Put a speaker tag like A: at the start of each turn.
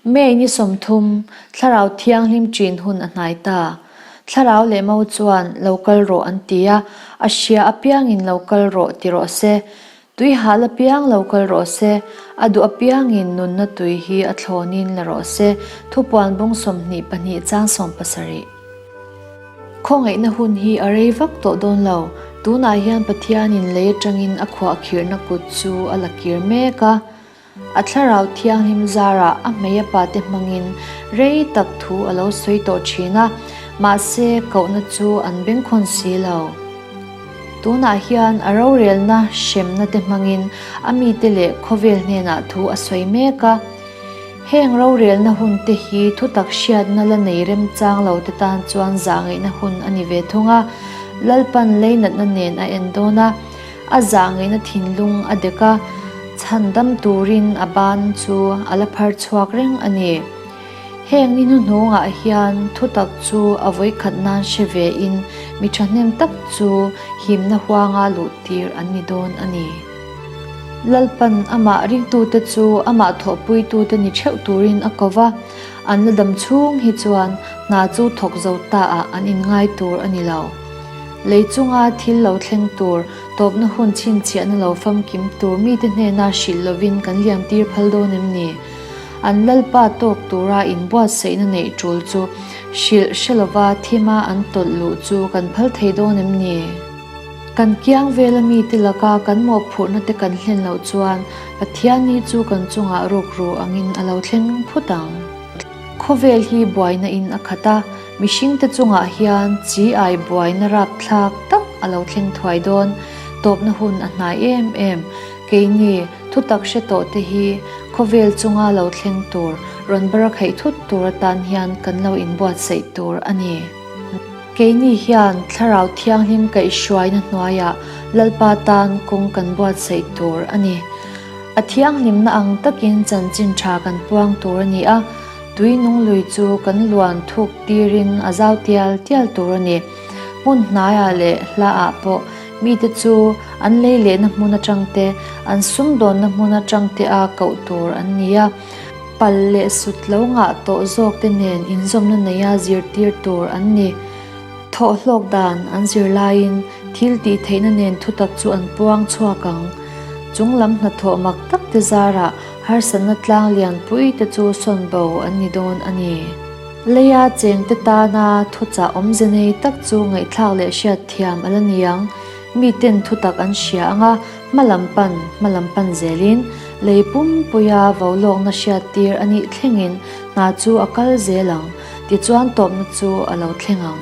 A: May ni sawmthum, Thlarau Thianghlim ṭin hun a hnai ta. Thlarau leh Mo chuan lo kal rawh an ti a, a hria apiangin lo kal rawh ti rawh se, tui hal apiang lo kal rawh se, a duh apiangin nunna tui hi a thlawnin la rawh se, thupuanbung sawmhnih pahnih chang sawm pasarih. Khawngaihna hun hi a rei vak tawh dawn lo, tunah hian Pathianin lei aṭangin a khuahkhirhna kut chu a la kir mek a. A Thlarau Thianghlim zarah a hmeia pate hmangin rei tak thu a lo sawi tawh thin a, mahse kohna chu an bengkhawn si lo. Tunah hian a rorelna hremna te hmangin a mite leh khawvel hnenah thu a sawi mek a. Heng rorelna hun te hi thutak hriatna la nei remchang lo te tan chuan zahngeihna hun a ni ve thung a, Lalpan leinatna nen a en dawn a. A zahngaihna thinlung a dek a, chhan dam turin a ban chu a la phar chhuak reng a ni. Heng ni hnuhnungah hian thu tak chu a vawikhat nan hre ve in mi thahnem tak chu himna huanga luh tir an ni dawn a ni. Lalpan amah ringtute chu amah thawhpuitu te ni theuh turin a ko va, an la dam chhung hi chuan hna chu thawk zo ta ah an inngai tur a ni lo. Lei chunga thil lo thleng tur, tawpna hun chhinchhiahna lo famkim tur mite hnena hrilh lovin kan liantir phal dawn em ni? An Lalpa tawk tura inbuatsaihna neih tul chu hrilh hre lova thima an tawlh luh chu kan phal thei dawn em ni? Kan kiang vela mite laka kan mawhphurhna te kan hlen loh chuan Pathian ni chu kan chungah rukru angin a lo thleng phut ang. Khawvel hi buaina in a khat a. Mihringte chungah hian chi ai buaina rapthlak tak a lo thleng thuai dawn. Tawpna hun a hnai em em. Keini thutak hre tawhte hi khawvel chunga lo thleng tur, rawn barakhaih thut tur atan hian kan lo inbuatsaih tur a ni. Keini hian Thlarau Thianghlim kaihhruaina hnuaiah Lalpa tan kawng kan buatsaih tur a ni. A thianghlimna ang takin chanchin tha kan puang tur a ni a. Tui nung lui chu kan luan thuk tirin a zau tial tial tur a ni. Hmun hnaiah leh hla ah pawh mite chu an lei lehna hmun atang te, an sum dawnna hmun atang te a koh tur an ni a. Pal leh sut lo ngah tawh zawk te nen inzawmna neih a zir tir tur an ni. Thawh hlawk dan an zir laiin thil tih theihna nen thutak chu an puang chhuak ang. Chunglam hnathawh mak tak te zarah Harsatna tlang lianpui te chu sawn bo an ni dawn a ni. Lei a cheng te tana thuchah awmze nei tak chu ngaihthlak leh hriat thiam a la ni ang. Mi ten thutak an hria ang a, hma lam pan, hma lam pan zelin. Lei pumpuia vo lawkna hriat tir a nih thlengin hna chu a kal zel ang. Tichuan tawpna chu a lo thleng ang.